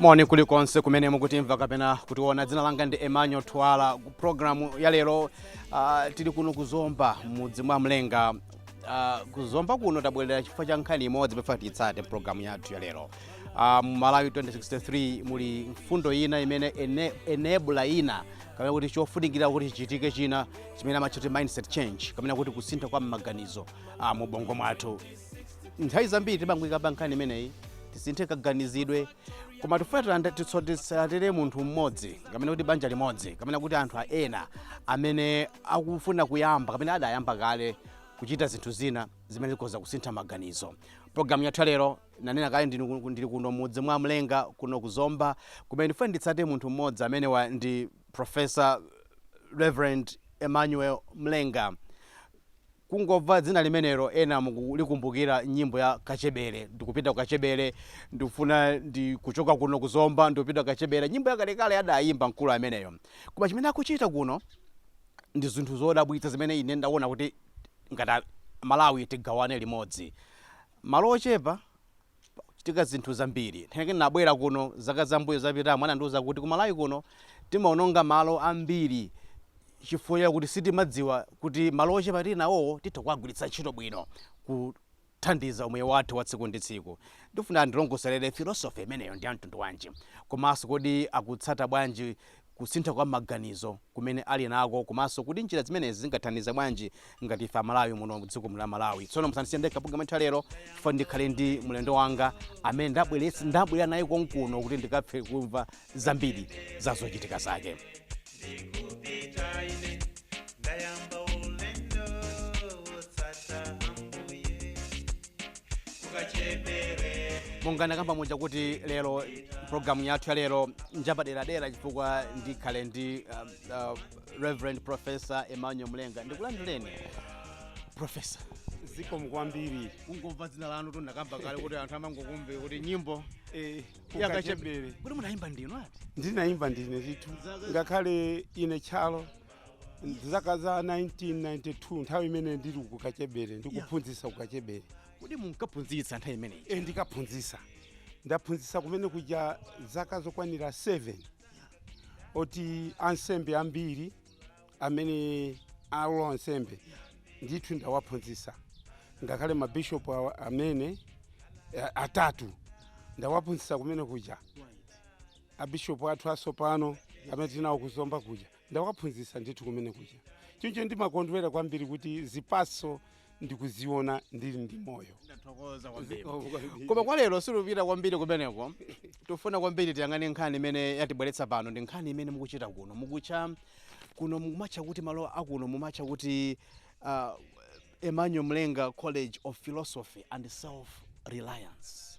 moni kulikonse kumene mukutimva kapena kutiona dzina langa ndi emmanuel twala programu ya lero uh, tili kuno kuzomba mudzi mwa mlenga kuzomba kuno tabwerera chifukwa cha nkhani imodzi tifuna titsate programu yathu ya lero uh, mu malawi 2063 muli mfundo ina imene ene, enebula ina kapena kuti chofunikira kuti chichitike china chimene amatcha kuti mindset change kapena kuti kusintha kwa maganizo uh, mu bongo mwathu nthawi zambiri timangoikamba nkhani imeneyi tisinthe kaganizidwe koma tifuna tilanda- titso- titsatire munthu mmodzi kapena kuti banja limodzi kapena kuti anthu a- ena amene akufuna kuyamba kapena adayamba kale kuchita zinthu zina zimene zikhoza kusintha maganizo programu yathu ya lero nanena kale ndili ku- ndili kuno mudzi mwa mlenga kuno kuzomba kumene ndifuna nditsatire munthu mmodzi amene ndi Professor, Reverend Emmanuel Mlenga. Kungomva dzina limenelo ena mukukumbukira nyimbo ya Kachebere. Ndikupita ku Kachebere, ndikufuna ndi kuchoka kuno ku Zomba, ndikupita ku Kachebere. Nyimbo yakalekale adayimba mkulu ameneyo. Koma chimene akuchita kuno ndi zinthu zodabwitsa zimene ine ndaona kuti ngati a Malawi tigawane limodzi. Malo ochepa Kuchitika zinthu zambiri. Nthawi yake ndinabwera kuno zaka za mmbuyo zapitamo anandiuza kuti ku Malawi kuno timaononga malo ambiri chifukwa chakuti sitimadziwa kuti malo ochepa tili nawowo titha kuwagwiritsa ntchito bwino kuthandiza umoyo wathu wa tsiku ndi tsiku. Ndifuna andilongosolere philosophy imeneyo ndi ya mtundu wanji komanso kodi akutsata bwanji kusintha kwa maganizo kumene ali nako komanso kuti njira zimenezi zingathandize bwanji ngati ife amalawi muno mdziko muno la malawi tsono musandisiye ndekha programu yathu ya lero chifukwa choti ndikhale ndi mlendo wanga amene ndabwerera iye konkuno kuti ndikathe kumva zambiri za zochitika zake ndikupita ine ndayamba ulendo wotsata ambuye monga ndakamba muja kuti lero programu yathu ya lero njapaderadera chifukwa ndikhale ndi um, uh, reverend professor emmanuel mlenga ndikulandireni professor zikomo kwambiri kungomva dzina lanu ndakamba kale kuti anthu amangokumbuka nyimbo Eh, ya kachebere kukachebere. kuti munayimba ndinu ati ndinayimba ndine ndithu ngakhale ine kale zaka za 1992 nthawi imene ndili ku kachebere ndikuphunzitsa ku kachebere kodi munkaphunzitsa nthawi imeneyo e ndinkaphunzitsa ndaphunzitsa kumene kuja zaka zokwanira 7 oti ansembe ambiri amene ali ansembe ndithu ndawaphunzitsa ngakhale mabishopu amene eh, atatu ndawaphunzitsa kumene kuja abishopu athu asopano amene tili nawo kuzomba kuja Ndawaphunzitsa ndithu kumene kuja. Choncho ndimakondwera kwambiri kuti zipatso ndikuziona ndili ndi moyo. Ndathokoza kwambiri. Zikomo kwambiri. Koma kwa lero sitipita kwambiri kumeneko. Tufuna kwambiri tiyang'ane nkhani imene yatibweretsa pano ndi nkhani imene mukuchita kuno. Mukutcha kuno mumatcha kuti malo akuno mumatcha kuti uh, Emmanuel Mlenga College of Philosophy and Self Reliance.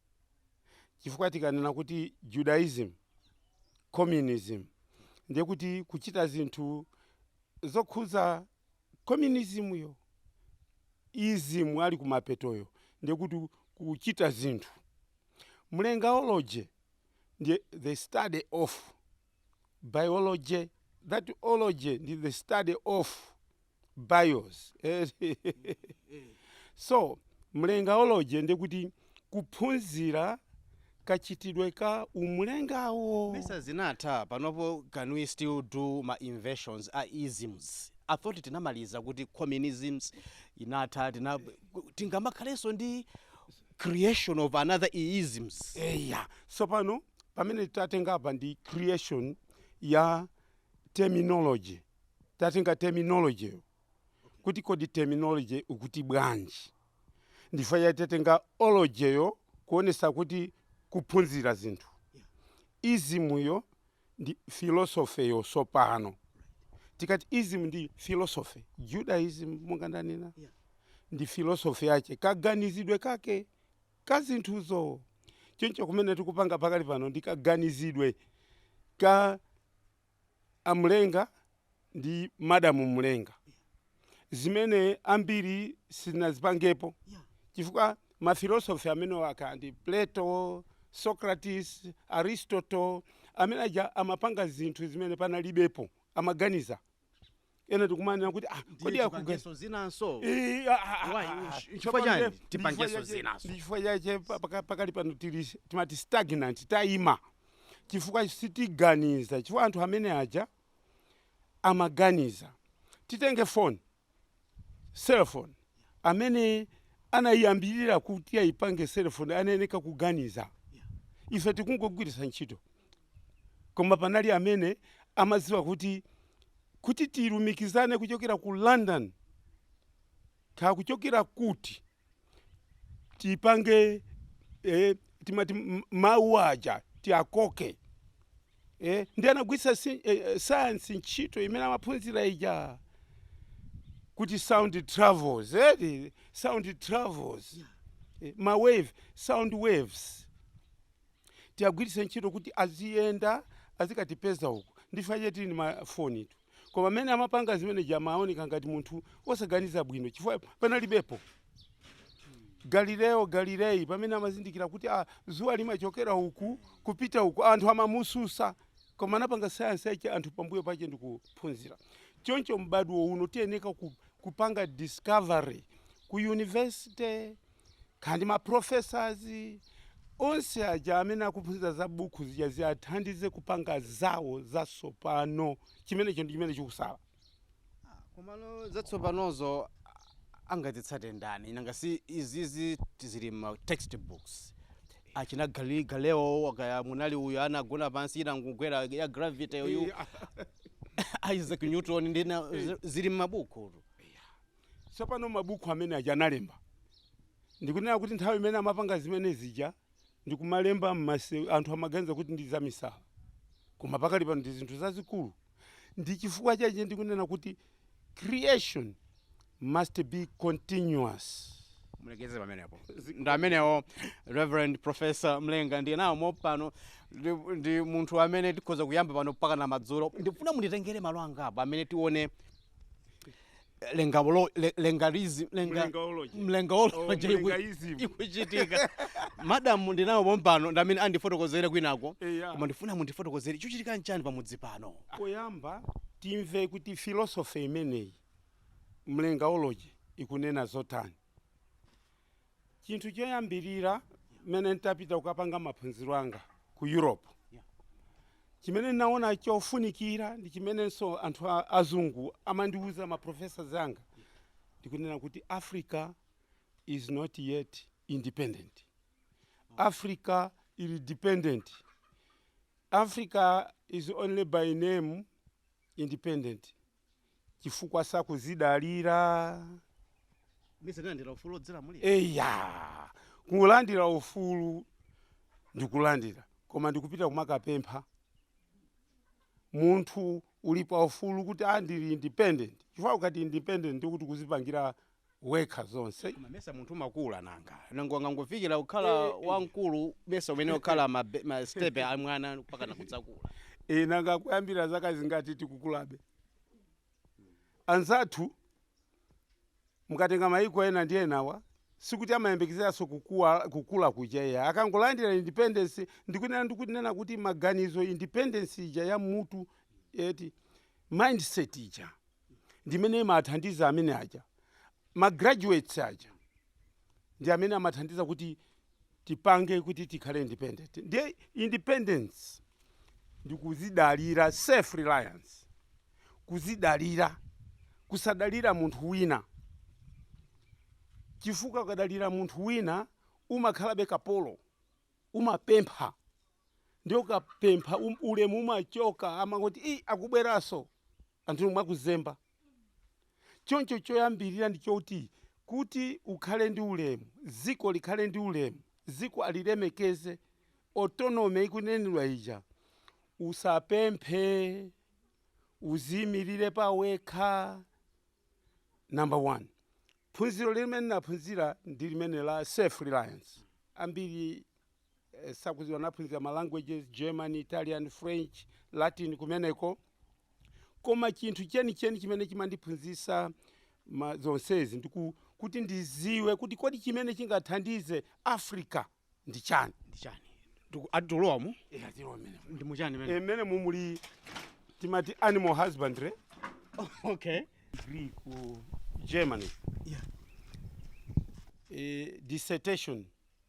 chifukwa tikanena kuti Judaism, Communism ndiye kuti kuchita zinthu zokhudza Communism yo, ism ali kumapetoyo ndiye kuti kuchita zinthu. Mlengaology ndi the study of biology that ology ndi the study of bios so mlengaology ndi kuti kuphunzira kachitidwe ka umlengawo mesa zinatha panopo can we still do ma inventions a isms i thought tinamaliza kuti communisms inatha tina tingamakhalenso ndi creation of another i isms. eya tsopano pamene tatenga apa ndi creation ya terminology tatenga terminology yo kuti kodi terminology ukuti bwanji ndi ifeyo tatenga ology yo kuonesa kuti kuphunzira zinthu izimuyo ndi philosopheyo tsopano tikati ism ndi philosophy judaism monga ndanena Yeah. ndi philosophy yace kaganizidwe kake ka zinthuzo choncho kumene tikupanga pakali pano ndi kaganizidwe ka amlenga ndi madam mlenga zimene ambiri sitinazipangepo chifukwa ma philosophy amenewa kaya ndi plato, socrates, aristotle amene aja amapanga zinthu zimene panalibepo amaganiza ena tikumanena kuti ah, Ndiye kodi akuganiza tipangenso zinanso Eh, ah, ah, ah, Why? ah. Chifukwa Chifukwa chani? ndiye- Tipangenso chifukwa chache- zinazo. ndi chifukwa chache pa- paka- pakali pano tili timati stagnant tayima chifukwa sitiganiza chifukwa anthu amene aja amaganiza. Titenge phone, cell phone, amene anaiyambirira kuti aipange cell phone anayeneka kuganiza. Ife tikungogwiritsa ntchito. Koma panali amene amadziwa kuti, kuti tilumikizane kuchokera ku London Kaya kuchokera kuti tipange eh, timati m- mawu aja tiakoke eh, ndi anagwiritsa si- eh, eh, sayansi ntchito imene amaphunzira ija kuti sound travels eh, sound travels eh, ma wave sound waves tiyagwiritse ntchito kuti aziyenda azikatipeza uku ndife apa tili ndi mafoni tu Koma amene amapanga zimene zija amaoneka ngati munthu wosaganiza bwino chifukwa panalibepo Galileo Galilei pamene amazindikira kuti ah, dzuwa limachokera uku kupita uku. Anthu amamutsutsa koma anapanga sayansi yake anthu pambuyo pache ndikuphunzira. Choncho m'badwo uno tiyeneka ku, kupanga discovery ku university kaya ndi ma professors onse aja amene akuphunzitsa za buku zija ziathandize kupanga zawo zatsopano chimenecho ndi chimene chikutsala komano zatsopanozo angazitsate ndani nanga si izizi zili ma textbooks achina Galileo Galileo kaya munali uyu anagona pansi inangogwera ya gravity uyu Isaac Newton ndi zina zili m'mabuku Tsopano, mabukhu amene aja analemba, ndikunena kuti nthawi imene amapanga zimene zija ndi kumalemba, anthu amaganiza kuti ndi zamisala. Koma pakali pano ndi zinthu zazikulu. Ndi chifukwa chache ndikunena kuti creation must be continuous. Mulekeze pamenepo. Ndi amenewo Rev. Prof. Mlenga ndi nawo pompano, ndi, ndi munthu amene tikhoza kuyamba pano mpakana madzulo. Ndikufuna munditengere malo angapo amene tione mlengaolo- mle- mlengaism mlenga Mlengaology. mlengaology Oh, iku- mlengaism. ikuchitika madamu ndinawo pompano ndamene andifotokozere kwinako Eya. koma ndifuna mundifotokozere chikuchitika nchani pamudzi pano poyamba timve kuti filosofe imeneyi mlengaology ikunena zotani Chinthu choyambirira mmene ntapita kukapanga maphunziro anga ku Europe, chimene ndinaona chofunikira ndi chimenenso anthu azungu amandiuza ma professors anga ndikunena kuti Africa is not yet independent. Africa ili dependent. Africa is only by name independent. chifukwa sakudzidalira munalandira ufulu odzilamulira eya kulandira ufulu ndikulandira koma ndikupita kumakapempha munthu uli pa ufulu kuti ah ndili independent chifukwa ukati independent ndikuti kudzipangira wekha zonse. Koma mesa munthu makula nanga. Nanga ungangofikira kukhala Eh, eh. wamkulu mesa umene ukhala ma, be- ma step a mwana mpaka nakudzakula. Eh, nanga kuyambira zaka zingati tikukulabe. Anzathu mukatenga mayiko ena ndi enawa sikuti amayembekezeranso kuku- kukula kuja iyayi akangolandira independence ndikunena ndikunena kuti maganizo independence ija ya mutu eti mindset ija ndi imene imathandiza amene aja ma graduates aja ndi amene amathandiza kuti tipange kuti tikhale independent ndiye independence ndi kuzidalira self reliance kuzidalira kusadalira munthu wina chifukwa ukadalira munthu wina umakhalabe kapolo umapempha ndiye ukapempha um, ulemu umachoka amangoti "Ii, akubweranso anthu inu amakuzemba. Choncho choyambirira ndi choti, kuti ukhale ndi ulemu, dziko likhale ndi ulemu, dziko alilemekeze, autonomy ikunenedwa ija, usapemphe, uziimirire pawekha, number one. Phunziro limene naphunzira ndi limene la self-reliance. Ambiri. sakuziwa naphunzira ma languages german italian french latin kumeneko koma chinthu chenicheni chimene chimandiphunzisa ma- zonsezi ndiku kuti ndiziwe kuti kodi chimene chingathandize africa ndi chani ndi chani Ndiku- ati tulowamo Eh, atero amene. ndi muchani mene emene mumuli timati animal husbandry okay degree ku germany Yeah. eh, dissertation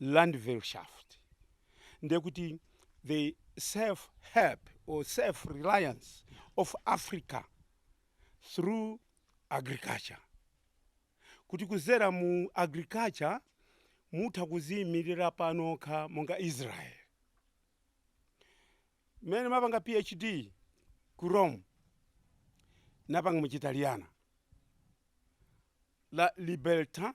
Landwirtschaft, ndiye kuti the self-help or self-reliance of Africa through agriculture, kuti kuzera mu agriculture mutha kuziimilira panokha monga Israel. Mmene mapanga PhD ku Rome napanga mu Chitaliyana la libertà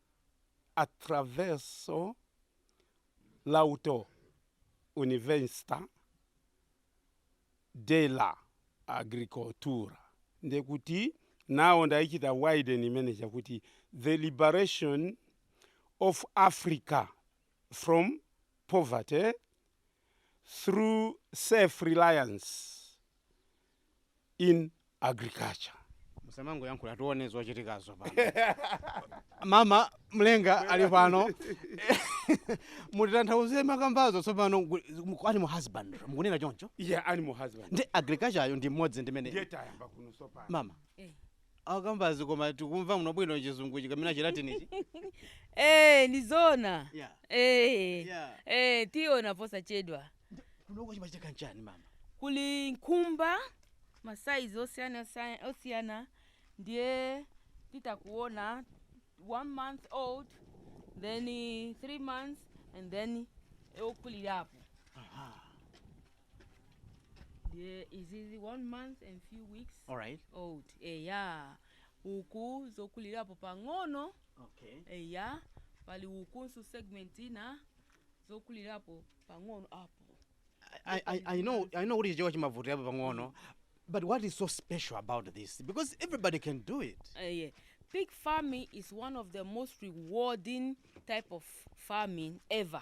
Attraverso l'auto-università della agricoltura, ndiye kuti now ndaichita widen imene chakuti the liberation of africa from poverty through self reliance in agriculture. Musamangoyankhula tione zochitikazo pano. Mama Mlenga ali pano. Mutitanthauzire makambazo tsopano animal husbandry. Mukunena choncho? Yeah, animal husband. Ndi agriculture yo ndi mmodzi ndimene. Ndiye tayamba kuno sopano. Mama. Eh. Akambazi koma tikumva muno bwino chizunguchi kapena chilatinichi. Eh, ni zona. Yeah. Eh. Yeah. Eh, tiona posachedwa. Kunoko chimachitika nchani mama? Kuli nkhumba zamasaizi osiyana osiyana- osiyana ndiye titakuona one month old then eh, three months and then okulirapo Aha. ndiye izizi one month and few weeks alright old eya uku zokulirapo pang'ono okay eya pali ukunso segment ina zokulirapo pang'ono apo I, I, I know I know kuti chichewa chimavutirapo pang'ono but what is so special about this because everybody can do it Uh, yeah. Pig farming is one of the most rewarding type of farming ever.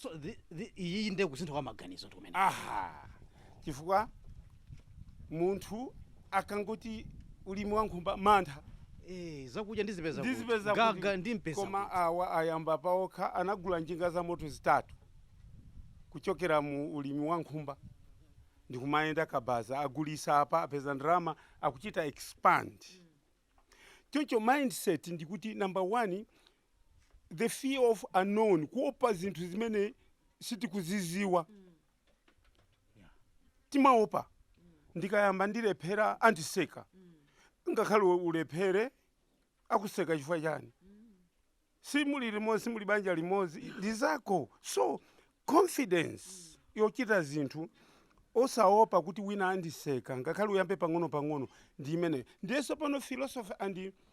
so thi- thi- iyiyi ndiye kusintha kwa maganizo ndi kumene aha chifukwa munthu akangoti ulimi wa nkhumba mantha Eh, zakudya ndizipeza kuti. ndizipeza kuti. gaga ndimpeza koma kuti. awa ayamba paokha anagula njinga za moto zitatu kuchokera mu ulimi wa nkhumba ndikumayenda kabaza agulisa apa apeza ndalama akuchita expand choncho mindset ndikuti number one the fear of unknown kuopa zinthu zimene sitikuziziwa timaopa ndikayamba ndilephera andiseka ngakhale ulephere akuseka chifukwa chani simuli limodzi simuli banja limodzi ndi zako so confidence yochita zinthu osaopa kuti wina andiseka ngakhale uyambe pang'ono pang'ono ndi imene ndiyenso pano philosophy and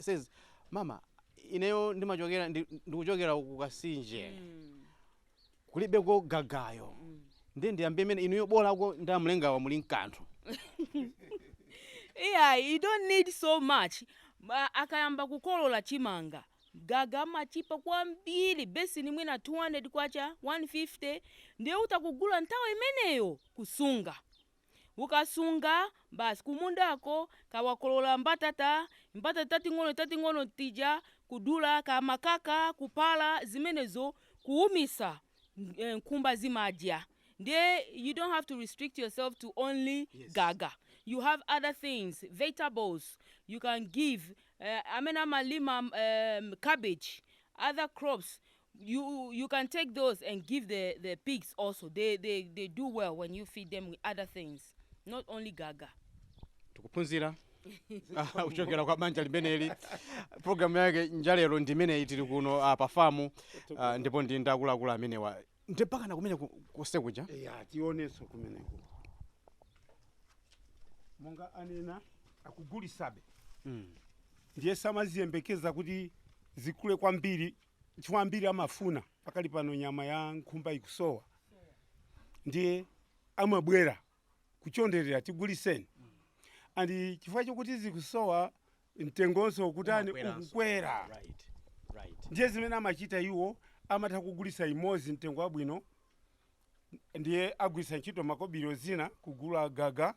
says mama ineyo ndimachokera ndi- ndikuchokera ku kasinje kulibeko gagayo ndiye ndiyambe mmene inuyo bolako ndi a Mlengawa muli mkanthu yeah you don't need so much Ma- akayamba kukolola chimanga gaga amachipa kwambiri besini mwina 200 kwacha 150 ndiye utakugula nthawi imeneyo kusunga Ukasunga, basi kumundako kawakolola mbatata, mbatata tating'ono tating'ono tija, kudula ngati makaka, kupala zimenezo, kuumitsa, nkhumba zimadya. Ndiye you don't have to restrict yourself to only gaga, you have other things, vegetables, you can give amene amalima cabbage, other crops, you you can take those and give the the pigs also they they they do well when you feed them with other things not only gaga tikuphunzira ah, kuchokera kwa banja limeneli programu yake ya lero ndi imeneyi tili kuno ah, pa famu ah, ndipo ndi zakulakula zimenezi ndi mpaka kumene ku- kose kuja ya tionenso kumeneko monga anena akugulisabe Mm. ndiye samaziyembekeza kuti zikule kwambiri chifukwa ambiri amafuna pakali pano nyama ya nkhumba ikusowa ndiye amabwera kuchonderera tiguliseni and chifukwa chokuti zikusowa mtengonso ukutani ukukwera Right. ndiye zimene amachita iwo amatha kugulisa imodzi mtengo wabwino ndiye agwirisa ntchito makobiri zina kugula gaga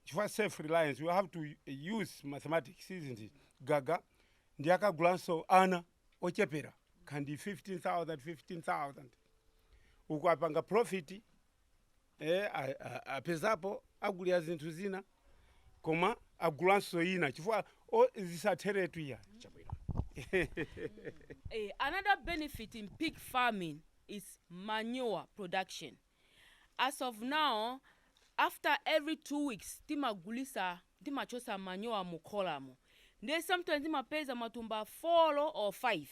chifukwa self reliance you have to use mathematics isn't it gaga ndiye akagulanso ana ochepera can be 15000 uku apanga profit eh, a- a- apezapo agulira zinthu zina koma agulanso ina chifukwa o- zisatheretu iya another benefit in pig farming is manure production. as of now after every two weeks timagulisa timachotsa manyowa mu kholamo ndiye sometimes timapeza matumba 4 or 5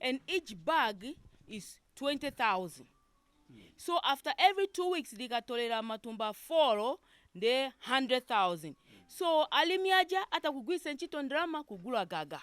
and each bag is 20000 so after every two weeks tikatolera matumba 4 ndiye 100000 so alimi aja atha kugwiritsa ntchito ndalama kugula gaga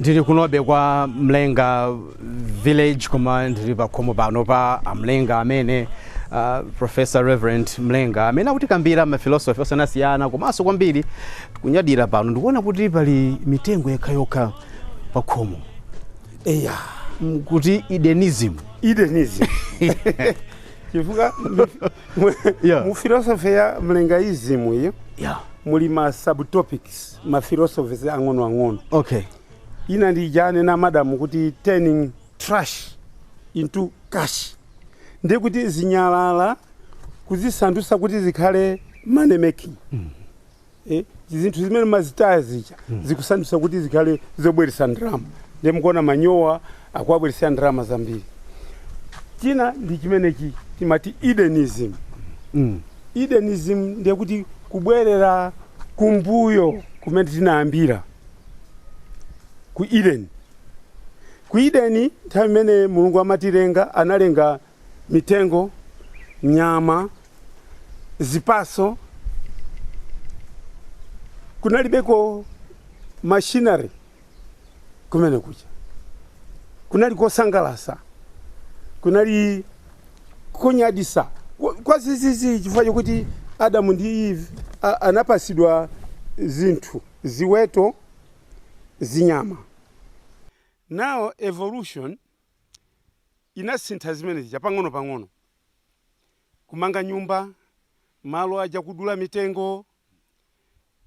ndili kunobe kwa mlenga village koma ndili pakhomo pano pa amlenga amene uh, professor reverend mlenga amene akutikambira mafilosofi osiyanasiyana komanso kwambiri tikunyadira pano ndikuona kuti pali mitengo yokhayokha pakhomo eya Mm, kuti edenism chifukwa mu philosophy ya mlengaism iyo muli ma subtopics ma philosophies ang'onoang'ono okay ina ndi ija anena madam kuti turning trash into cash ndiye kuti zinyalala kuzisandutsa kuti zikhale money making eh, zinthu zimene timazitaya zija zikusandutsa kuti zikhale zobweretsa ndalama ndiye mukuona manyowa akuwabweretsa ndalama zambiri china ndi chimenechi timati edenism edenism ndiye kuti Kubwerera kumbuyo kumene tinayambira, ku Edeni. Ku Edeni, nthawi imene Mulungu amatilenga, analenga mitengo, nyama, zipatso. Kunalibeko machinery. kumene kuja kunali kosangalasa kunali konyadisa kwa- kwa zizizi chifukwa chokuti adamu ndi eve a- anapasidwa zinthu ziweto zinyama now evolution inasintha zimene zija pang'ono pang'ono kumanga nyumba malo aja kudula mitengo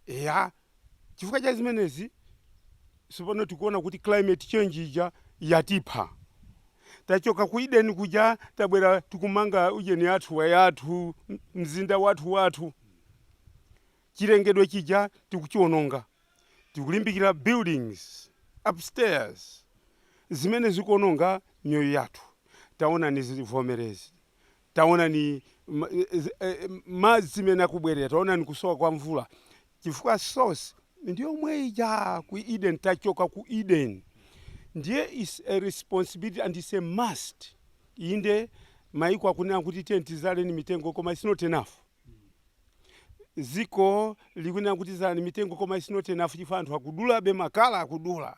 Eya, chifukwa cha zimenezi tsopano tikuona kuti climate change ija yatipha. Tachoka ku Eden kuja tabwera tikumanga ujeni yathu wayathu, mzinda wathuwathu. Chilengedwe chija tikuchiwononga. Tikulimbikira buildings upstairs zimene zikuwononga miyoyo yathu. Taonani zivomerezi, Taonani ma, eh, eh, madzi mmene akubwerera, taonani kusowa kwa mvula, chifukwa source ndiyomwe ija ku Eden, tachoka ku Eden. Ndiye is a responsibility and is a must. Inde maiko akunena kuti tiye tizaleni mitengo koma it's not enough. Ziko likunena kuti zalani mitengo koma it's not enough chifukwa anthu akudulabe makala akudula.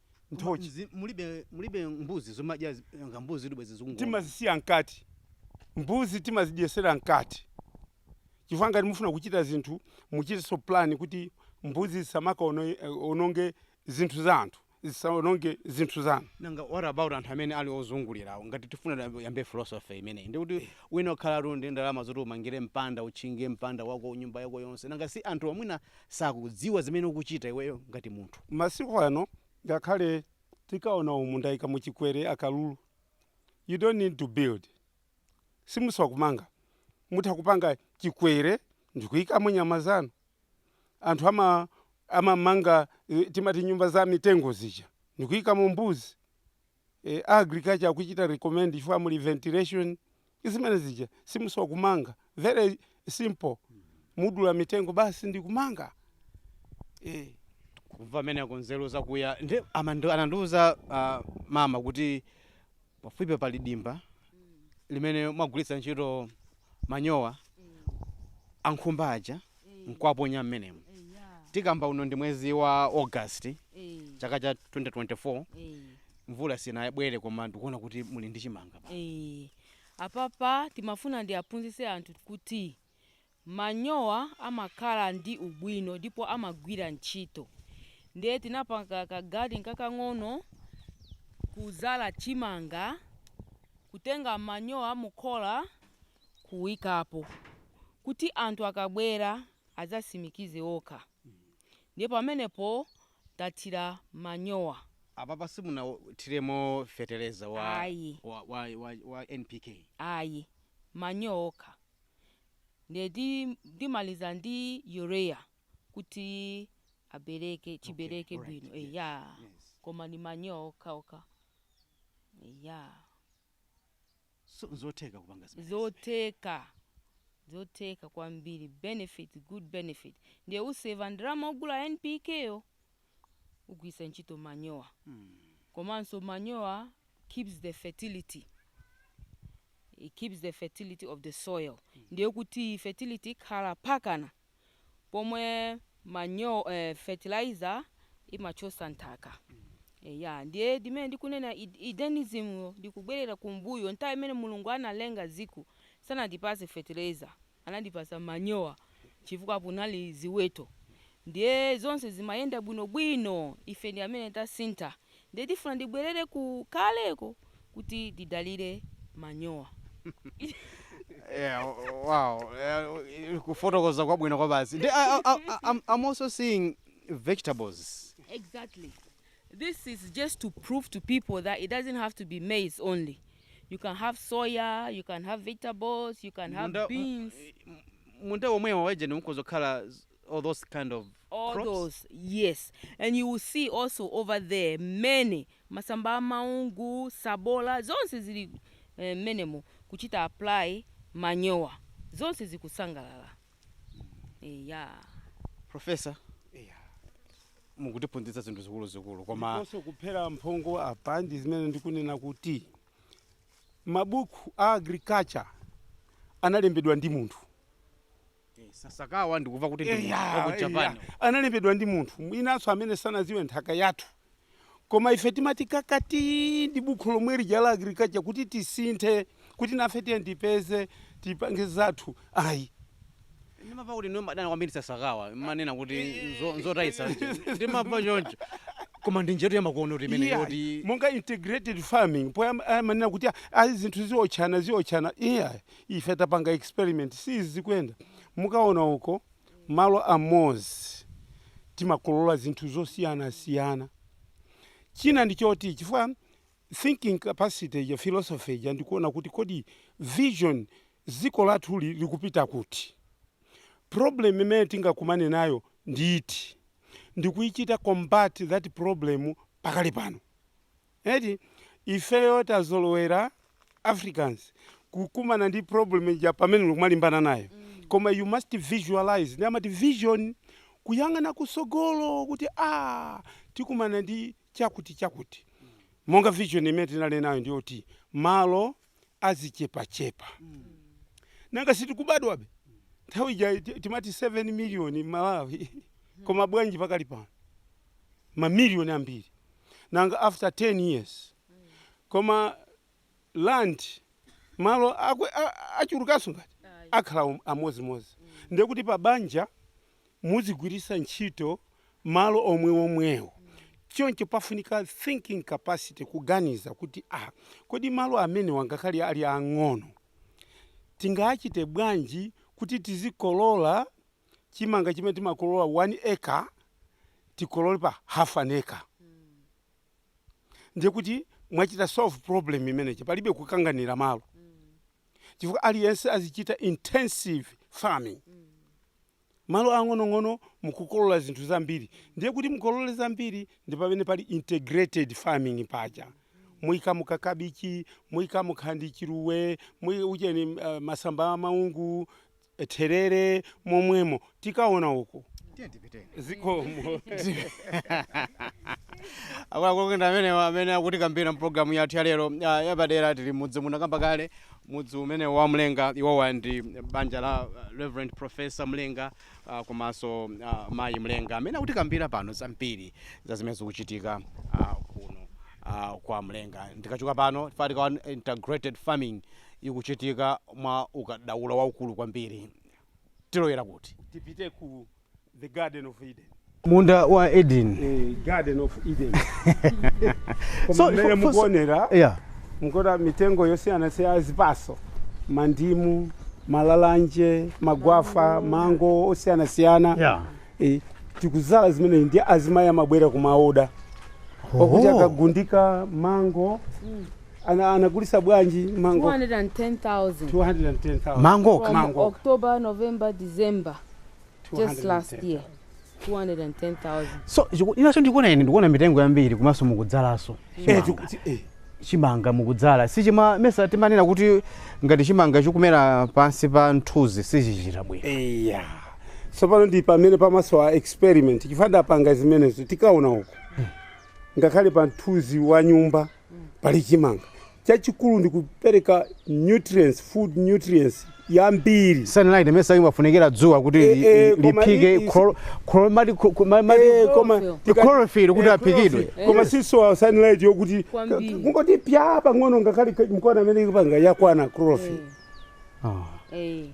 nthochi Mzi- mulibe mulibe mbuzi zomadya zi- nga mbuzi kuti bwezi zikungona timazisiya mkati mbuzi timazidyesera mkati chifukwa ngati mufuna kuchita zinthu muchitenso plan kuti mbuzi zisamakaononge zinthu za anthu zisaononge zinthu zanu nanga what about anthu amene ali ozungulirawo ngati tifuna tiyambe- yambe philosophy imeneyi ndikuti mwina ukhaletu ndi ndalama zoti umangire mpanda utchinge mpanda wako nyumba yako yonse nanga si anthuwa mwina sakudziwa zimene ukuchita iweyo ngati munthu. Masiku ano ngakhale tikaona umu ndaika mu chikwere, akalulu you don't need to build simusowa kumanga mutha kupanga chikwere ndikuikamo nyama zanu anthu ama amamanga eh, timati nyumba za mitengo zija ndikuikamo mbuzi a agriculture akuchita recommend chifukwa muli ventilation zimene zija simusowa kumanga very simple mudula mitengo basi ndi kumanga e. kumva kumeneko nzeru zakuya ndi amandu- anandiuza ah, mama kuti pafupi pali dimba limene mwagwiritsa ntchito manyowa ankhumba aja nkuwaponya mmenemo tikamba uno ndi mwezi wa august chaka cha 2024 mvula sinabwere koma ndikuona kuti muli ndi chimanga Eh, apapa timafuna tiwaphunzitse anthu kuti Manyowa amakhala ndi ubwino ndipo amagwira ntchito. Ndiye tinapanga ka garden kakang'ono, kudzala chimanga, kutenga manyowa a mu khola kuikapo kuti anthu akabwera adzatsimikize okha. Ndiye pamenepo tathira manyowa. Apapa simunathiremo feteleza wa, wa, wa, wa, wa NPK? Ayi, manyowa okha. Ndiye ndimaliza ndi urea kuti abereke chibereke okay, bwino right, eya yes, yes. Koma ni manyowa okhaokha eya so, zotheka kupanga zimenezi zotheka zotheka kwambiri benefit good benefit ndiye useva ndalama ogula NPK yo kugwiritsa ntchito manyowa komanso manyowa keeps the fertility it keeps the fertility of the soil ndiye kuti fertility ikhala pakana pomwe manyowa fertilizer imachosa nthaka Eh, ya ndiye ndi zimene ndikunena id- Edenism yo ndikubwerera kumbuyo nthawi imene mulungu analenga dziko sanatipase fertilizer anatipatsa manyowa chifukwa panali ziweto ndiye zonse zimayenda bwino bwino ife ndi amene tasintha ndiye tifuna tibwerere ku kaleko kuti tidalire manyowa. Yeah, wow. Eh, Kufotokoza kwabwino kwabasi. Ndi- I- I- I- I'm I'm also seeing vegetables. Exactly. This is just to prove to people that it doesn't have to be maize only. You can have soya, you can have vegetables, you can have Munda- beans, m- m- munda womwewa wa edeni mukhoza kukhala z- all those kind of all crops. those. Yes. And you will see also over there many masamba a maungu, sabola, zonse zili eh, menemo kuchita apply manyowa. Zonse zikusangalala. ya profesa Eya. mukutiphunzitsa zinthu zikuluzikulu koma ndiponso kuphera mphongo apa ndi zimene ndikunena kuti mabuku a agriculture analembedwa ndi munthu sasakawa ndikumva kuti ndi munthu wa ku japan analembedwa ndi munthu mwinanso amene sanaziwe nthaka yathu koma ife timati kakati ndi bukhu lomwe lija la agriculture kuti tisinthe kuti nafe tiyeni tipeze tipange zathu ayi ndimamva kuti inu mumadana kwambiri sasakawa mumanena kuti nzo- nzotayitsa ndimamva choncho koma ndi njiratu yamakono kuti imene Yeah, yoti monga integrated farming poyamba amanena kuti "Ah, ah, zinthu zimaotchana zimaotchana iyayi ife tapanga experiment si zikuyenda mukaona uko Malo amodzi timakolola zinthu zosiyanasiyana. China ndi choti chifukwa thinking capacity ija, philosophy ija ndi kuona kuti kodi vision dziko lathuli likupita kuti? Problem imene tingakumane nayo ndi iti? Ndi kuichita combat that problem pakali pano. Eti ifeyo tazolowera Africans kukumana ndi problem ija pamene tikumalimbana nayo koma you must visualize ndi amati vision kuyang'ana kutsogolo kuti ah tikumana ndi chakuti chakuti monga vision imene tinali nayo ndiyoti malo azichepachepa nanga sitikubadwabe nthawi ija ti- timati 7 miliyoni malawi koma bwanji pakali pano mamiliyoni ambiri nanga after 10 years koma land malo achulukanso ngati akhala amodzimodzi ndiye kuti pa banja muzigwiritsa ntchito malo omwewomwewo. Choncho pafunika thinking capacity, kuganiza kuti a kodi malo amenewa ngakhale ali aang'ono tingachite bwanji kuti tizikolola chimanga chimene timakolola one acre tikolole pa half an acre ndiye kuti mwachita solve problem imeneyi palibe kukanganira malo chifukwa aliyense azichita intensive farming. Malo ang'onong'ono nkukolola zinthu zambiri ndiye kuti mukolole zambiri ndi pamene pali integrated farming paja muikamo ka kabichi muikamo nkhwani chiluwe mui- ujeni masamba a maungu therere momwemo tikaona uko Tiyeni tipiteni. zikomo akuluakulu ndi amenewa amene akutikambira mpulogalamu yathu ya lero ah, yapadera tili mudzi muno kamba kale mudzi umenewo wa mlenga iwowa ndi banja la uh, reverend professor mlenga uh, komanso uh, mayi mlenga amene akutikambira pano zambiri za zimene zikuchitika uh, kuno uh, kwa mlenga tikachoka pano tifika ku integrated farming ikuchitika mwa ukadaulo waukulu kwambiri tilowera kuti tipite ku The Garden of Eden. munda wa edeni Eh, Garden of Eden. So, Koma mmene for- for- mukuonera yeah. mukuona mitengo yosiyanasiyana zipatso mandimu malalanje magwafa mango osiyanasiyana Yeah. Eh, tikudzala zimenezi ndi azimayi amabwera kumaoda okuti Oh. akagulitse mango ana- anagulisa bwanji mango 210,000 210,000. mangoka From Mango. October, November, December. just last year 210,000 so chiku- ina chomwe ndikuona ine ndikuona mitengo yambiri komanso mukudzalanso Eh, chimanga. chiku- chi- eh. chimanga mukudzala sichima mesa timanena kuti ngati chimanga chikumera pansi pa mthunzi sichichita bwino eya tsopano ndi pamene pamanso a experiment chifukwa ndapanga zimenezo tikaona uko ngakhale pa mthunzi wa nyumba pali chimanga chachikulu ndikupereka nutrients food nutrients yambiri sunlight mesa imafunikira dzuwa kuti Eh, li- eh, li- koma liphike i- i- chloro- chloro- mati- ku- ku- ma- mati- Eh, koma Chlorophyll. tika- chlorophyll kuti eh, aphikidwe. chlorophyll. koma sisowa sunlight yokuti Kwambiri. kungoti pya pang'ono ngakhale ka- mkona mmene ikupanga yakwana chlorophyll Ah. Eh,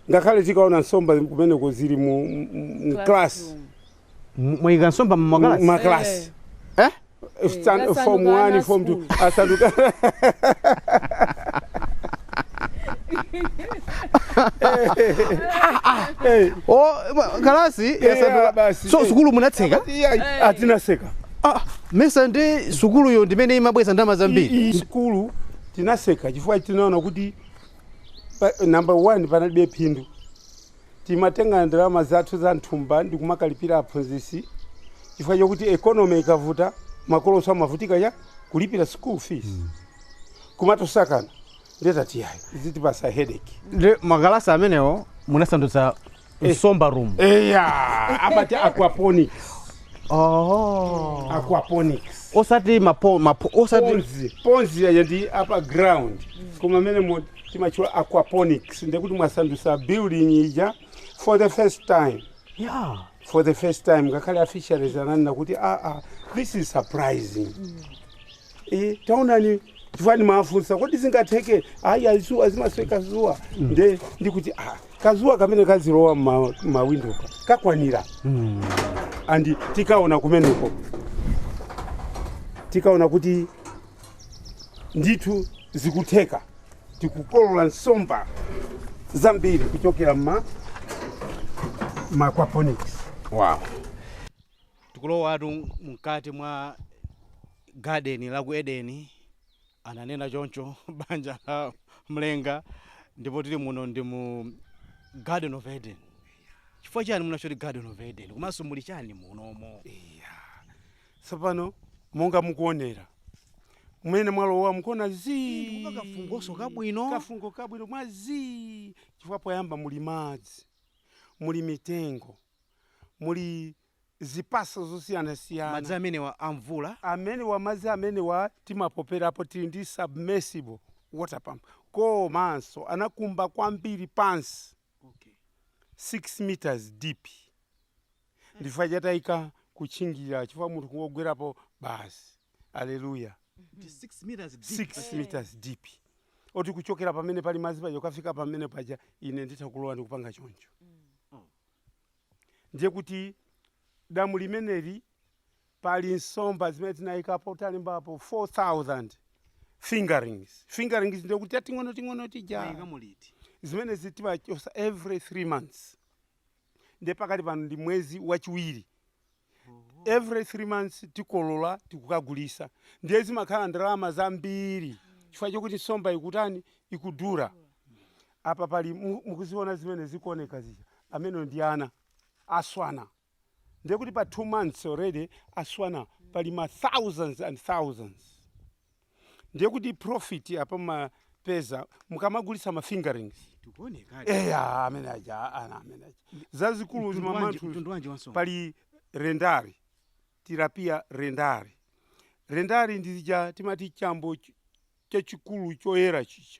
ngakhale tikaona nsomba kumeneko zili mu mu- mu class classroom. M- mwayika nsomba mmakalasi makalasi eh? Stand- Yasanduka form ana 1 form 2 school. asanduka Eh, o ma- kalasi yeah, yasanduka basi. so sukulu munatseka iya, aa tinatseka ah, mesa ndi sukuluyo ndimene imabweza ndalama I- zambiri iyi sukulu tinatseka chifukwa tinaona kuti pa- number one panalibe phindu Timatenga ndalama zathu za m'thumba ndi kumakalipira aphunzitsi chifukwa chokuti economy ikavuta makolonso amavutika chani? Kulipira school fees. Kumatosakana. Ndiye tati yayi, zitipatsa headache. Ndi makalasi amenewo munasandutsa nsomba room. Eya, amati aquaponics. Oh. Aquaponics. Osati mapo mapo osati Ponzi, ponzi yaja ndi apa ground. Koma amene mo timatchula aquaponics ndekuti mwasandutsa building ija for the first time yeah. for the first time ngakhale a fisheries ananena kuti aa ah, ah, this is surprising mm. e, taonani chifukwa ndimafunsa kodi zingatheke ayi a dzuwa zimasowa kadzuwa mm. nde ndikuti ah, kadzuwa kamene kazilowa mmawindomo kakwanira mm. andi tikaona kumeneko tikaona kuti Ndithu zikutheka, tikukolola nsomba zambiri kuchokera mma ma aquaponics. Wow. tikulowatu mkati mwa garden la ku eden ananena choncho banja la mlenga ndipo tili muno ndi mu garden of eden chifukwa chani munatcha kuti garden of eden komanso muli chani munomo Tsopano, monga mukuonera, mmene mwalowa mukuona zii. Ii, ndikuva kafungonso kabwino. Kafungo kabwino mwa zii chifukwa poyamba muli madzi, muli mitengo, muli zipatso zosiyanasiyana. Madzi amenewa a mvula? Amenewa madzi amenewa timapoperapo, tili ndi submersible water pump komanso anakumba kwambiri pansi, 6 metres deep. ndi chifukwa chake tinaika kutchingira chifukwa munthu kungogwerapo basi aleluya Ndi 6 meters deep. 6 meters deep oti kuchokera pamene pali madzi paja kufika pamene paja ine nditha kulowa ndikupanga choncho ndiye kuti damu limeneli pali nsomba zimene tinayikapo talembapo 4000 fingerings fingerings ndiye kuti tating'onoting'ono tija Mayikamo liti. zimene zitimachosa every 3 months nde pakali pano ndi mwezi wachiwiri every three months tikolola tikukagulisa ndiye zimakhala ndalama zambiri chifukwa chokuti nsomba ikutani ikudula apa pali mu- mukuziona zimene zikuoneka zija amenewo ndi ana aswana ndiye kuti pa two months already aswana pali ma thousands and thousands ndiye kuti profit apa mumapeza mukamagulitsa ma fingerings tikuonekadi eya amene aja ana amene aja zazikulu Mtundu wanji- zimamantha mtundu wanji wansomba pali rendari tilapia rendari rendari ndizija timati chambo ch- chachikulu choyera chija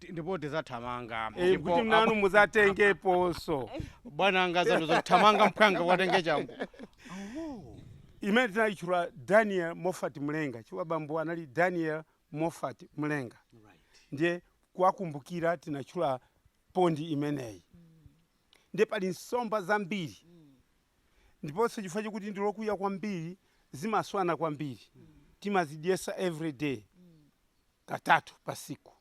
Ti- ndipo tizathamanga Eh, ndipo kuti nanu muzatengeponso bwana anga zanu zothamanga mphwanga watenge changu imene tinayitchula daniel moffat mlenga chifukwa bambo anali daniel moffat mlenga ndiye kuwakumbukira tinatchula pondi imeneyi ndiye pali nsomba zambiri ndiponso chifukwa chokuti ndi lokuya kwambiri zimaswana kwambiri timazidyesa every day katatu pa siku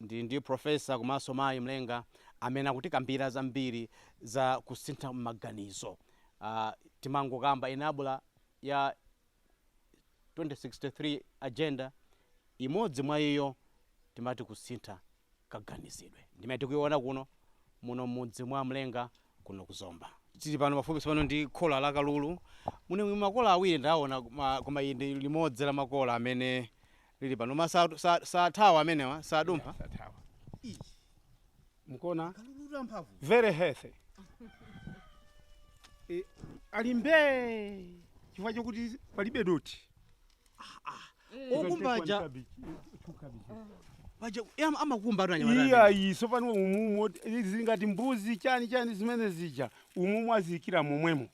Ndili ndi Professor komanso Mayi Mlenga amene akutikambira zambiri za kusintha maganizo. Timangokamba enabler ya 2063 agenda, imodzi mwa iyo timati kusintha kaganizidwe. Ndi imene tikuiona kuno, muno m'mudzi mwa Mlenga kuno ku Zomba. Tili panopa pafupi tsopano ndi khola la akalulu. Muno muli makola awiri ndaona, koma ili ndi limodzi la makola amene lili pano ma sa- sa- sathawa amenewa sadumpha sathawa mukuona akalulu amphamvu very healthy e, ali mbee chifukwa chokuti palibe doti okukumba aja paja em- amakumba atu anyamata eya amene. Tsopano umu muli zingati mbuzi chani chani zimene zija umumu aziikira momwemo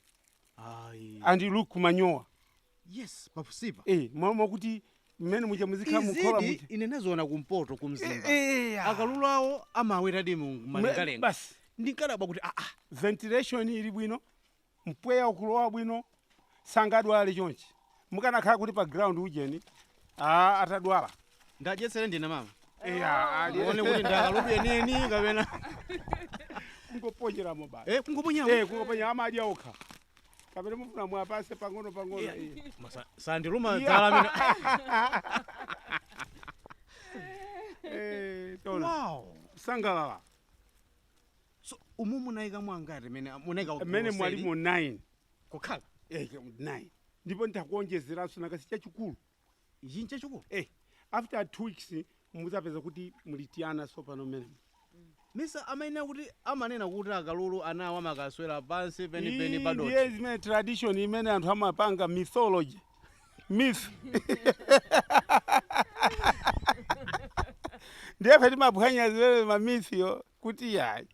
Ayi. and you look manyowa Yes, pafupipa. eh mwa- mwakuti mmene muja muzikhala mukhola muja ine ndinaziona kumpoto kumzimba. Eh, eh, ah. Akalulu awo amaweradi mu Mwe- malengalenga. basi Ndinkadabwa kuti ah ah ventilation ili bwino mpweya ukulowa bwino sangadwale chonchi mukanakhale kuti pa ground ujeni ah, atadwala ndadyetseredi ndine mama eya ali- muone kuti ndi akalulu enieni kapena kungoponyeramo basi Eh, kungoponyamo? Eh, kungoponyera amadya okha kapena mufuna muwapatse pang'ono pang'ono Yeah. eh. Masa- sandiluma Yeah. dzala amene Eh, tona. Wow. sangalala so umu munaika mwangati mene munaika mmene mwalimo 9 kukhala eh, 9 ndipo nditakuonjezeranso nakasi chachikulu ichi nchachikulu eh, after two weeks muzapeza kuti muli tiana tsopano mmenemo misa amanena kuti amanena kuti akalulu anawo amakaswera pansi penipeni padothi ndiye zimene tradition imene anthu amapanga mythology myth ndiye ife timaphwanya zimene mamythyo kuti yayi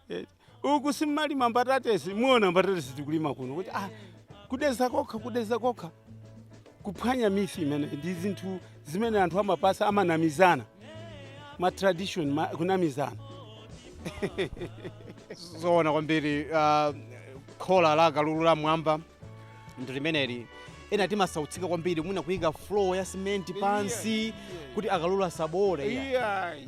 Eh, uku simmalima mbatatesi mwaona mbatatesi tikulima kuno kuti ah, kudeza kokha kudeza kokha kuphwanya myth imene ndi zinthu zimene anthu amapatsa amanamizana ma tradition ma, kunamizana zoona kwambiri uh, khola la kalulu la mwamba ndi limeneli ena timasautsika kwambiri mwina kuyika floor ya simenti pansi kuti akalulu asaboole iya. Iyayi.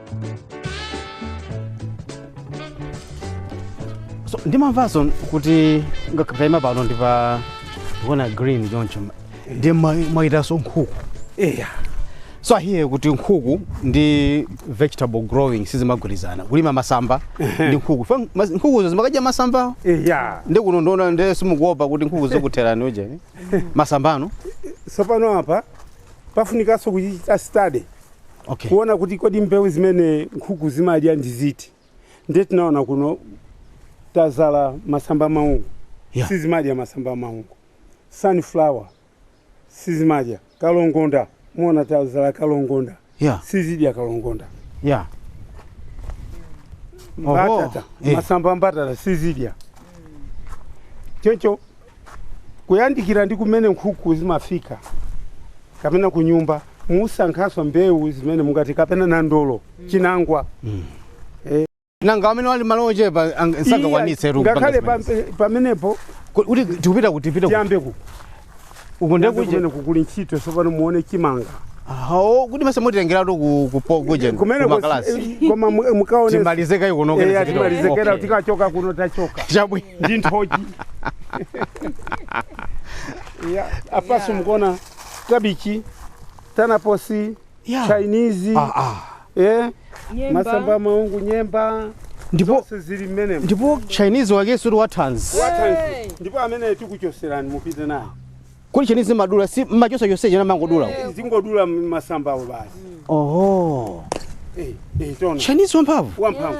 so ndimamvanso kuti ndikaima pano ndi pa ndikuona green choncho ndi mwawetanso nkhuku eya so ahiye kuti nkhuku ndi vegetable growing sizimagwirizana kulima masamba ndi nkhuku Fa- mas- nkhukuzo zimakadya masambawo eya ndi kuno ndaona ndi simukuopa kuti nkhuku zikutherani ujeni masamba ano tsopano apa pafunikanso kuchita study Okay. kuona kuti kodi mbewu zimene nkhuku zimadya ndi ziti ndiye tinaona kuno tadzala masamba maungu Yeah. sizimadya masamba maungu sunflower sizimadya kalongonda mwaona tadzala kalongonda Yeah. sizidya kalongonda Yeah. Oho, mbatata eh. masamba a mbatata sizidya choncho kuyandikira ndi kumene nkhuku zimafika kapena ku nyumba musankhenso mbewu zimene mungati kapena nandolo chinangwa nanga amene ali ndi malo ochepa ang- sangakwanitse tu kupanga ngakhale zimenezi. pampe- pamenepo Ku- kuti tikupita kuti tipita kuti tiyambe ku uko tiyambe ndi kuja kumene kukuli ntchito tsopano muone chimanga aho kuti mase mutitengeratu ku ku po- kuja kumene ku makalasi koma mu- mukaone timalize kaye kuno Eh, kene timalizeretu tikachoka kuno tachoka chabwino ndi nthochi Ya, apanso mukuona kabichi tanaposi Yeah. chinese Ah, ah. eh, masamba maungu nyemba ndipo zonse zili mmenemo ndipo chinese wakenso ndi wathanzi Wathanzi. ndipo amene tikuchotserani mupite naye kodi chinese madula si muchotsa chonsecho mumangodula dzingodulani masambawo basi oho Eh, eh, taona chinese wamphamvu wamphamvu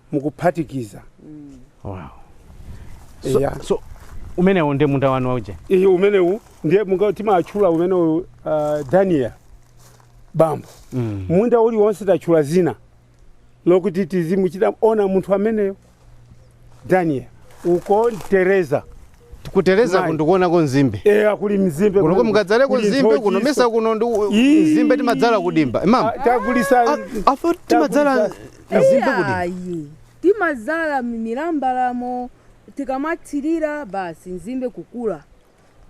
mukuphatikiza wow. so, Eya. so umenewo ndi munda wanu wauje iya umenewu ndiye munga timatchula umenewu uh, daniel bambo mm. munda uliwonse tatchula zina lokuti tizimuchita honour munthu ameneyo daniel uko tereza kutereza Mai. ndikuonako nzimbe eya kuli mzimbe kuno kuli- kumukadzaleko kuli nzimbe nthochi kunoso mesa kuno ndi u- Ii. nzimbe timadzala kudimba amati Ah, tagulisa ife timadzala Tagulisa. nzimbe kudimba ayi timadzala m'mbalimo tikamathirira basi nzimbe kukula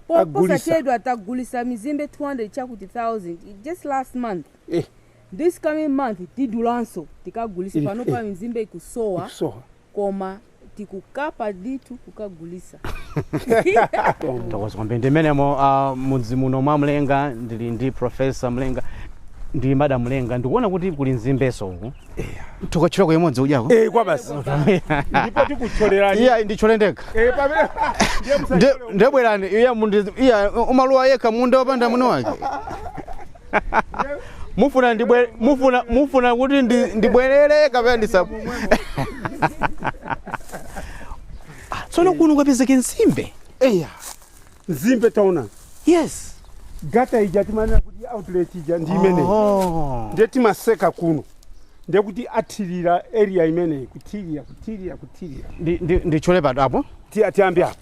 Po- Agulisa. posachedwa tagulisa mizimbe 200 chakuti 1000 just last month Eh. this coming month tidulanso tikagulisa Ili- panopa eh. mizimbe ikusowa kusowa koma tikukaba ndithu kukagulisa tathokoza kwambiri ndi mmenemo uh, mudzi muno mwa mlenga ndili ndi profesa mlenga ndi madam mlenga ndikuona kuti kuli nzimbenso uku tikathyole imodzi udyako Eh, kwa basi ndipo tikuthyolerani iya ndithyole ndekha Eh, pamene ndiye Nde- musathyole ndebwerani iya mundi- iya umaluwa yekha munda wapanda mwini wake mufuna ndibwe mufuna mufuna kuti ndi, ndibwerere kapena ndisa Ah, tsono kuno kwapezeka nzimbe eya nzimbe taona yes gate ija timanena kuti outlet ija ndi imene oh. ndiye timatseka kuno ndiye kuti athirire area imeneyi kuthirira kuthirira kuthirira ndi, ndi, ndithyole pati apo Ti- tiyambe apa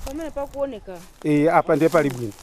pamene pakuoneka Eh, apa ndiye pali bwino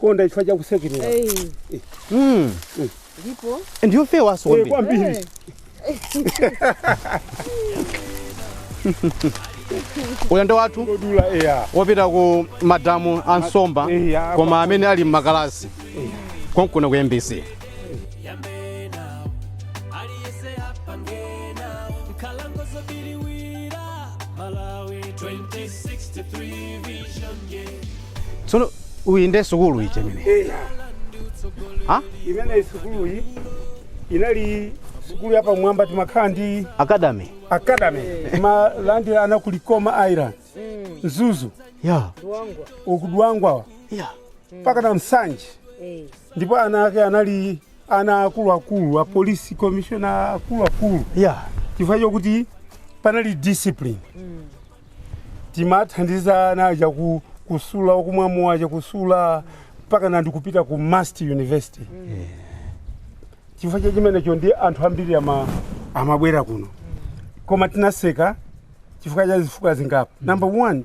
konda chifukwa cha kutsekemera Mm. ndipo ndiyofewanso Eh, kwambiri. kwambiri Ulendo wathu odula eya wopita ku madamu a nsomba Eh, ya, koma amene ali m'magalasi konkuno ku mbc tsono iyi nde sukulu ija imene eya ha imeneyi sukuluyi inali sukulu yapamwamba timakhala ndi academy academy timalandira ana ku likoma island mzuzu ya Luangwa. uku dwangwa ya mpaka na nsanje Eh. ndipo ana ake anali ana akuluakulu a police commissioner akuluakulu ya chifukwa chokuti panali discipline timathandiza ana aja ku, kusula okumwa mowa aja kusula mpaka ena ndi kupita ku must university chifukwa cha chimenecho ndi anthu ambiri ama, amabwera kuno koma tinaseka chifukwa cha zifukwa zingapo number one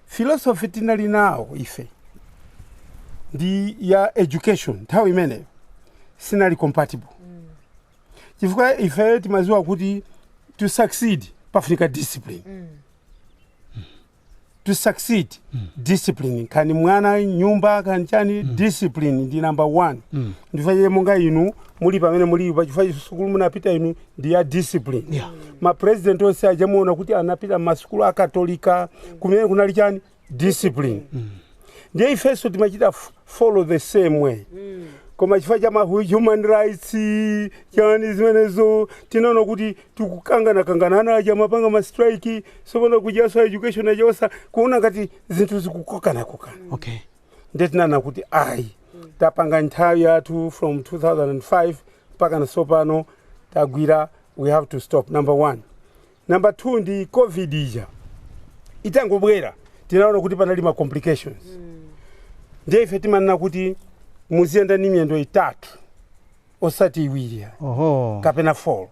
philosophy tinali nawo ife ndi ya education nthawi imeneyo sinali compatible chifukwa ife timaziwa kuti to succeed pafunika discipline to succeed discipline kani mwana mnyumba kani chani discipline ndi number one ndi ifeyo monga inu muli pamene mulipa chifukwa sukulu munapita inu ndi ya discipline Yeah. ma president onse aja muona kuti anapita m'masukulu akatolika kumene kunali chani discipline ndiye ifenso timachita f- follow the same way koma chifukwa cha ma hu- human rights chani zimenezo tinaona kuti tikukanganakangana ana aja akumapanga ma strike sopano kujaso a education aja ayamba kuona ngati zinthu zikukokanakokana okay ndiye tinaona kuti ayi tapanga nthawi yathu from 2005 mpaka pa sopano tagwira we have to stop number one Number 2 ndi covid ija itangobwera tinaona kuti panali ma complications ndiye ife timanena kuti muziyenda ndi miyendo itatu osati iwiri ya oho kapena 4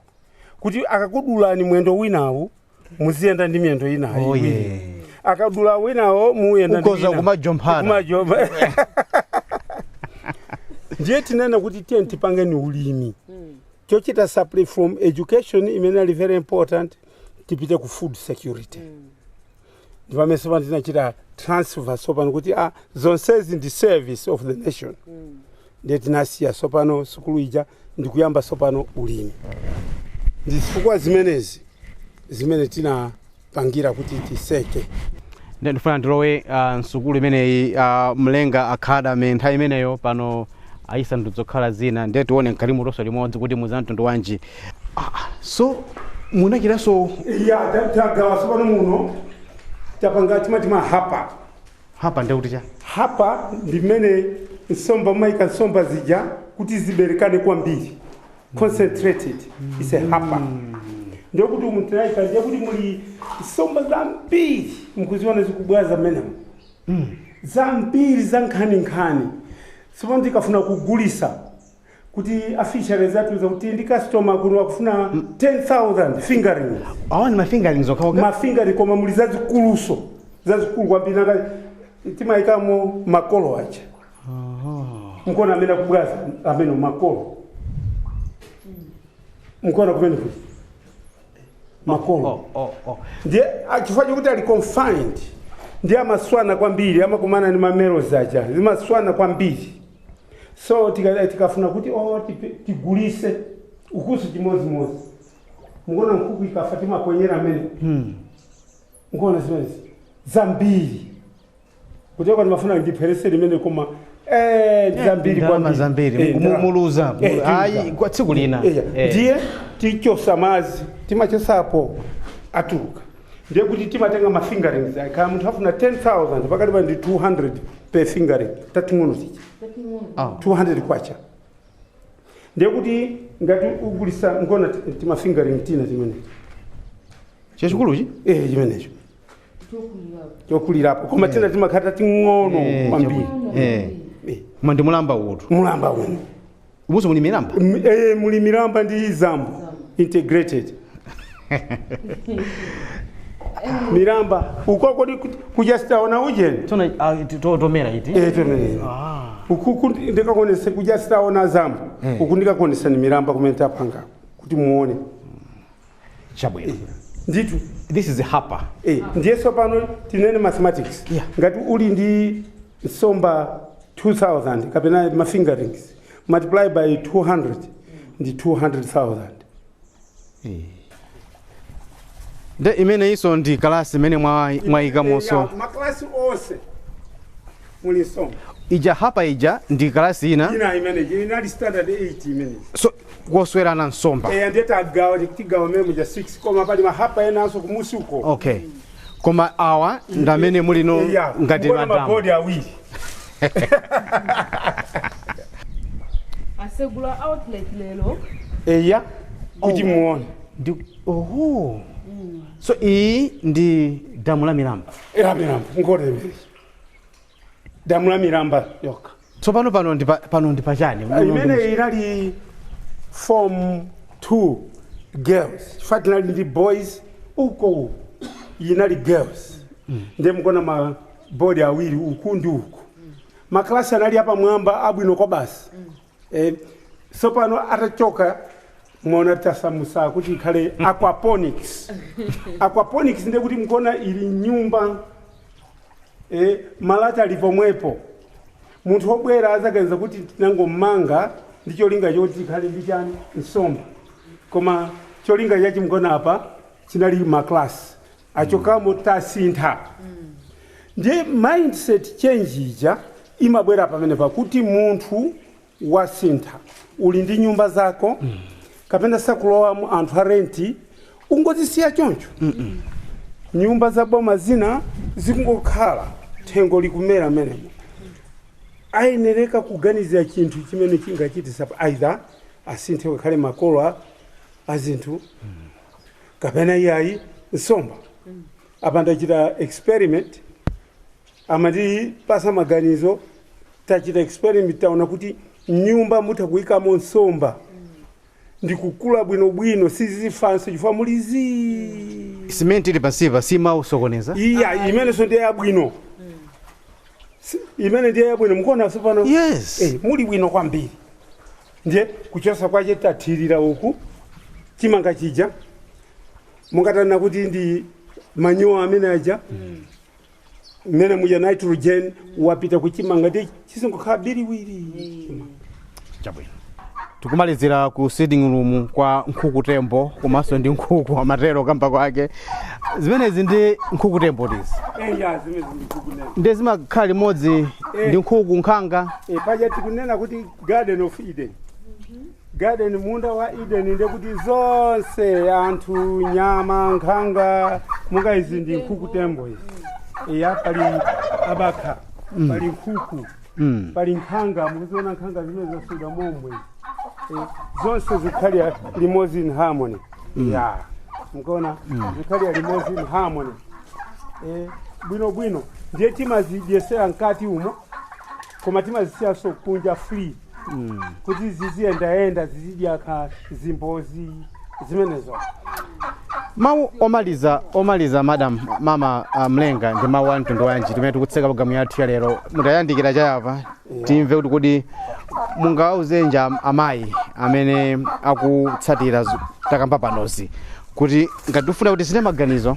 kuti akakudulani mwendo winawu muziyenda ndi miyendo inayo Oh, iwiri. yeah. akadula winawo muyenda ndi Ukoza wina. kumajomphana. Kumajomba. ndiye tinanena kuti tiyeni tipangeni ulimi Chochita supply from education imene inali very important tipite ku food security ndipamene sopano tinachita transfer sopano kuti a zonsezi ndi service of the nation ndiye tinasiya sopano sukulu ija ndikuyamba sopano ulimi ndi zifukwa zimenezi zimene tina pangira kuti tiseke Nde ndifuna ndilowe uh, msukulu imeneyi uh, mlenga academy nthawi imeneyo pano ayisa nsomba zokhala zina nde tione mkatimu tonse limodzi kuti muli za mtundu wanji ah, ah, so mwachitsanzo iya ta- tagawa sopano muno tapanga timati mahapa hapa nde kuti cha hapa ndi mmene nsomba timayika nsomba zija kuti ziberekane kwambiri concentrated is a hapa ndiye kuti umu tinaika ndiye kuti muli somba zambiri mukuziona zikubwera mmenemo zambiri za nkhani nkhani sopano tikafuna kugulisa kuti a fisheries atiuza zakuti ndi customer kuno akufuna 10000 fingerlings awa ndi mafingerlings okhaokha mafingerlings koma muli zazikuluso zazikulu kwambiri nanga timayikamo makolo aja mukuona amene akubwaza amene makolo mukuona kumene kuti makolo Oh, oh, oh. ndiye ah, chifukwa chokuti ali confined ndiye amaswana kwambiri amakumana ndi ma males aja zimaswana kwambiri so tika- tikafuna kuti oh, tipe- tigulise ukusu chimodzimodzi mukuona nkhuku ikafa timaponyera amene mukuona zimenezi zambiri kuchoka ndimafuna ndipherese limene koma eh, ndi zambiri ndalama kwambiri. zambiri Eh, ndalama. muluza Eh, mulu- ayi tiluza. kwa tsiku lina Eya, Eh. ndiye tichosa madzi timachosapo atuluka ndiye kuti timatenga ma fingerlings ake. kaya munthu afuna 10000 pakati pa ndi 200 per fingerling tating'ono tija Ah. 200 kwacha ndiye kuti ngati ugulisa mukuona ti- timafingerling tina timenecho chachikuluchi eh chimenecho chokulirapo koma tina timakhala tating'ono Eh, kwambiri chabu- eh. Eh, koma ndi mulamba uwotu mulamba uno umuso muli milamba M- eh, muli milamba ndi zambo integrated milamba uko kodi ku- kuja sitaona ujeni tona ah, ti- to- tomera iti Eh, tonene. Ah. uku ku- ndikakuonese kuja sitaona zambo Eh. uku ndikakuonesani milamba kumene tapanga kuti muone chabwino ndithu this is hapa Eh, ndiye tsopano tinene mathematics Yeah. ngati uli ndi nsomba 2000 kapena ma fingerlings multiply by 200 ndi 200000 nde imeneyinso ndi kalasi imene mwa- mwayikamonso maklasi onse muli nsomba ija hapa ija ndi kalasi ina ina imene inali standard 8 imene so koswerana nsomba eya ndiye tagawa tigawa mmene muja 6 koma pali mahapa enanso kumusi uko okay koma awa ndamene muli no Eya, ngati mukuona madamu mabodi awiri tasegula outlet lero eya kuti muone Ndi- oho so iyi ndi damu la milamba eya milamba ngore imene damu la milamba yokha tsopano pano ndi pa- pano ndi pachani Muno ndi imene muchi- inali form 2 girls chifukwa tinali ndi boys uko uku inali girls ndiye mukuona ma bodi awiri uku ndi uku maklasi anali apamwamba abwino kwabasi eh, sopano atachoka mwaona tasamusa kuti ikhale aquaponics aquaponics ndiye kuti mukuona ili m'nyumba e Malata ali pomwepo. Munthu wobwera adzaganiza kuti tinangomanga ndi cholinga choti tikhale ndi chani nsomba, koma cholinga chache mukuona apa chinali ma class achokamo tasintha ndiye mindset change ija imabwera pamenepa kuti munthu wasintha uli ndi nyumba zako kapena sakulowamo anthu a renti ungozisiya choncho nyumba za boma zina zikungokhala thengo likumera menemo ayenereka kuganizira chinthu chimene chingachitisa either asinthe kukhale makolo a- a zinthu kapena iyayi nsomba apa ndachita experiment Amatipatsa maganizo, tachita experiment taona kuti m'nyumba mutha kuikamo nsomba ndi kukula bwinobwino, sizifanso chifukwa muli zii. Simenti ili pansipa simasokoneza? Iya, imenenso ndiye yabwino. Si- Imene ndiye yabwino mukuona tsopano? Yes. Eh, muli bwino kwambiri. Ndiye kuchosa kwache tathirira uku chimanga chija mungathe ona kuti ndi manyowa amene aja mmene muja nitrogen wapita kuchimanga ndiye chizingokhala biriwiri chabwino tikumalizira ku sitting room kwa nkhuku tembo komanso ndi nkhuku amatero kamba kwake zimenezi ndi nkhuku tembo tizi eya zimene ndikunena ndi zimakhala limodzi ndi nkhuku nkhanga e, paja tikunena kuti garden of eden garden munda wa eden ndekuti zonse anthu nyama nkhanga monga izi ndi nkhuku tembo izi eya pali abakha pali nkhuku Mm. pali nkhanga mukuziona nkhanga zimenezo zadutsa momwe Eh, zonse zikhalira limodzi in harmony ya mukuona zikhalira limodzi in harmony Eh, bwino bwino ndiye timazidyesera mkati umo koma timazisiyanso kunja free kuti ziziyendayenda zizidya kaya zimbozi zimenezo mawu omaliza omaliza madam mama uh, mlenga ndi mawu a mtundu wanji pamene tikutseka programu yathu ya lero mutayandikira chayapa timve kuti kodi mungawauzenji am- amayi amene akutsatira zu- takamba panozi kuti ngati tifuna kutisintha maganizo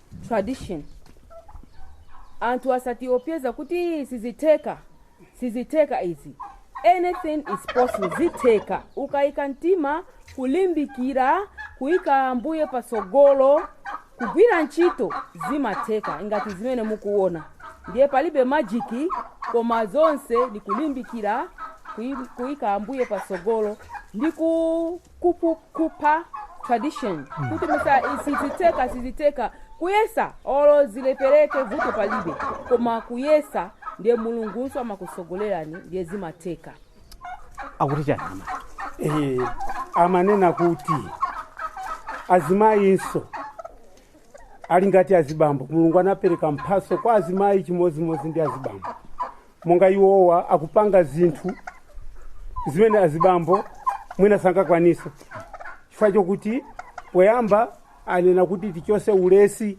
tradition anthu asatiopyeza kuti "Ii, sizitheka sizitheka izi anything is possible zitheka ukayika mtima kulimbikira kuyika ambuye patsogolo kugwira ntchito zimatheka ingati zimene mukuona ndiye palibe majiki koma zonse ndikulimbikira kuyi- kuyika ambuye patsogolo ndi ku kupu kupha tradition kuti mwina sizitheka sizitheka kuyesa olo zilephereke vuto palibe koma kuyesa ndiye mulungunso amakusogolerani ndiye zimatheka akuti chani amai Eh, amanena kuti azimayinso ali ngati azibambo mulungu anapereka mphatso kwa azimayi chimodzimodzi ndi azibambo monga iwowa akupanga zinthu zimene azibambo mwina sangakwanise chifukwa chokuti poyamba anena kuti tichose ulesi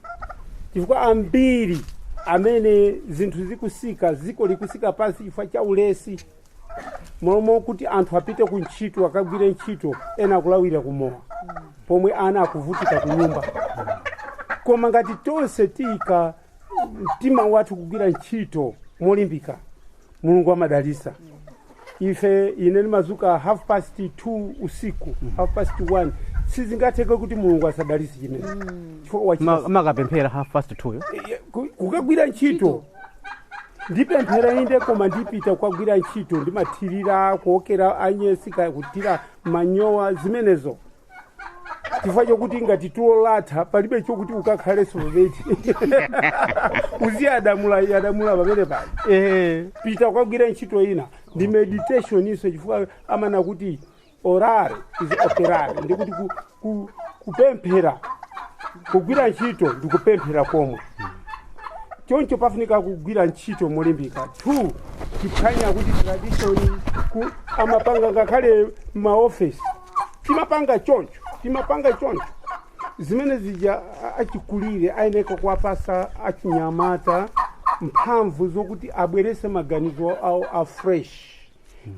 chifukwa ambiri amene zinthu zikusika ziko likusika pansi chifukwa cha ulesi m'malo mokuti anthu apite ku ntchito akagwire ntchito ena akulawira kumowa pomwe ana akuvutika ku nyumba koma ngati tonse tiyika mtima wathu kugwira ntchito molimbika mulungu amadalisa ife ine ndimazuka half past 2 usiku half past 1 sizingatheke kuti mulungu asadalise chimene makapemphera half past two yo kukagwira ntchito ndipemphera inde koma ndipita kukagwira ntchito ndimathirira kuwokera anyezi kaya kuthira manyowa zimenezo chifukwa chokuti ngati tulo latha palibe chokuti ukakhaleso pabedi uziyasamula yasamula pamene pali Eh. pita kukagwira ntchito ina ndi meditation nso chifukwa amanena kuti orare is operare ndikuti ku- ku- kupemphera kugwira ntchito ndi kupemphera komwe choncho pafunika kugwira ntchito molimbika two tiphwanye kuti tradition ku amapanga ngakhale m'maofesi timapanga choncho timapanga choncho zimene zija a- achikulire ayeneka kuwapasa achinyamata mphamvu zokuti abwerese maganizo awo afresh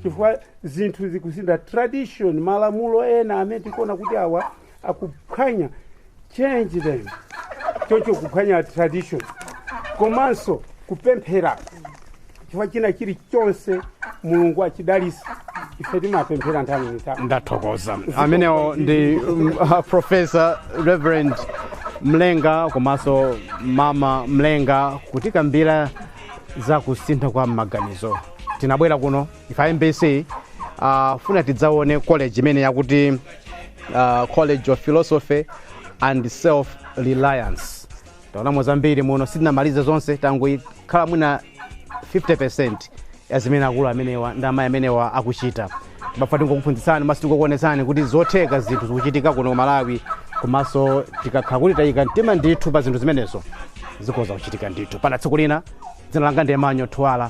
chifukwa zinthu zikusintha tradition malamulo ena amene tikuona kuti awa akuphwanya change them choncho kuphwanya tradition komanso kupemphera chifukwa china chilichonse mulungu achidalisa ife timapemphera nthawi ndi nthawi ndathokoza amenewo ndi um, uh, professor reverend mlenga komanso mama mlenga kutikambira za kusintha kwa maganizo tinabwera kuno ife a mbc uh, kufuna tidzaone college imene yakuti uh, college of philosophy and self reliance taonamo zambiri muno sitinamalize zonse tangoikhala mwina 50 ya zimene akulu amenewa ndi amayi amenewa akuchita mwafa tingokuphunzitsani maso tingokuonetsani kuti zotheka zinthu zikuchitika kuno ku malawi komanso tikakhala kuti tayika mtima ndithu pa zinthu zimenezo zikhoza kuchitika ndithu mpaka tsiku lina dzina langa ndi manyo thuwala